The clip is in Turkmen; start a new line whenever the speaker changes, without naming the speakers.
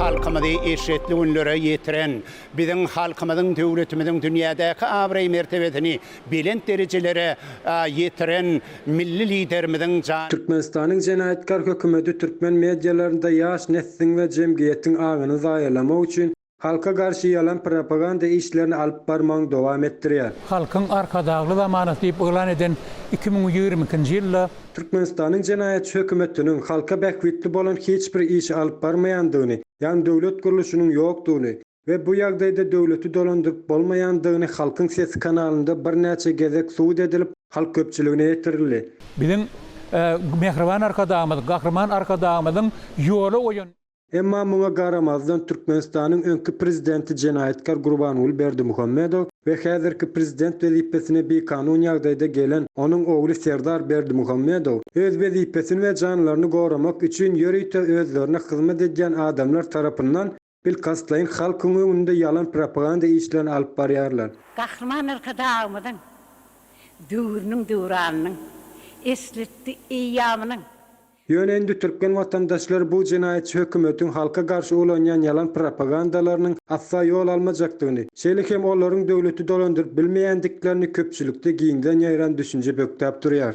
halkymyzy eşretli günlere ýetiren, biziň halkymyzyň, döwletimiziň dünýädäki abraý-mertebesini belent derejelere ýetiren Milli Liderimiziň jan. Türkmenistanyň
jenaýatkar hökümeti türkmen medialarynda ýaş nesliň we jemgyýetiň aňyny zaýalamak üçin Halka garşy ýalan propaganda işlerini alyp barmagyny dowam etdirýär. Halkyň Arkadagly
zamanasy diýip yglan eden iki müň ýigrimi ikinji ýylda. Türkmenistanyň
jenaýatçy hökümetiniň halka bähbitli bolan hiç bir işi alyp barmaýandygyny, ýagny döwlet gurluşynyň ýokdugyny we bu ýagdaýda döwleti dolandyryp bolmaýandygyny Halkyň sesi kanalynda birnäçe gezek subut edilip, halk köpçüligine ýetirildi. Biziň
Mähriban Arkadagymyz, Gahryman Arkadagymyzyň ýola goýan. Emma muňa
garamazdan Türkmenistanyň öňki prezidenti jenaýatkar Gurbanguly Berdimuhamedow we häzirki prezident wezipesine bikanun ýagdaýda gelen onuň ogly Serdar Berdimuhamedow öz wezipesini we janlaryny goramak üçin ýörite özlerine hyzmat edýän adamlar tarapyndan bilkastlaýyn halkyň öňünde ýalan propaganda işlerini alyp barýarlar. Gahryman
Arkadagymyzyň döwrüniň döwranynyň, esletdi eýýamynyň Ýöne indi
türkmen watandaşlary bu jenaýatçy hökümetiň halka garşy ulanýan ýalan propagandalarynyň asla ýol almajakdygyny, şeýle hem olaryň döwleti dolandyryp bilmeýändiklerini köpçülikde giňden ýaýran düşünje bökdäp durýar.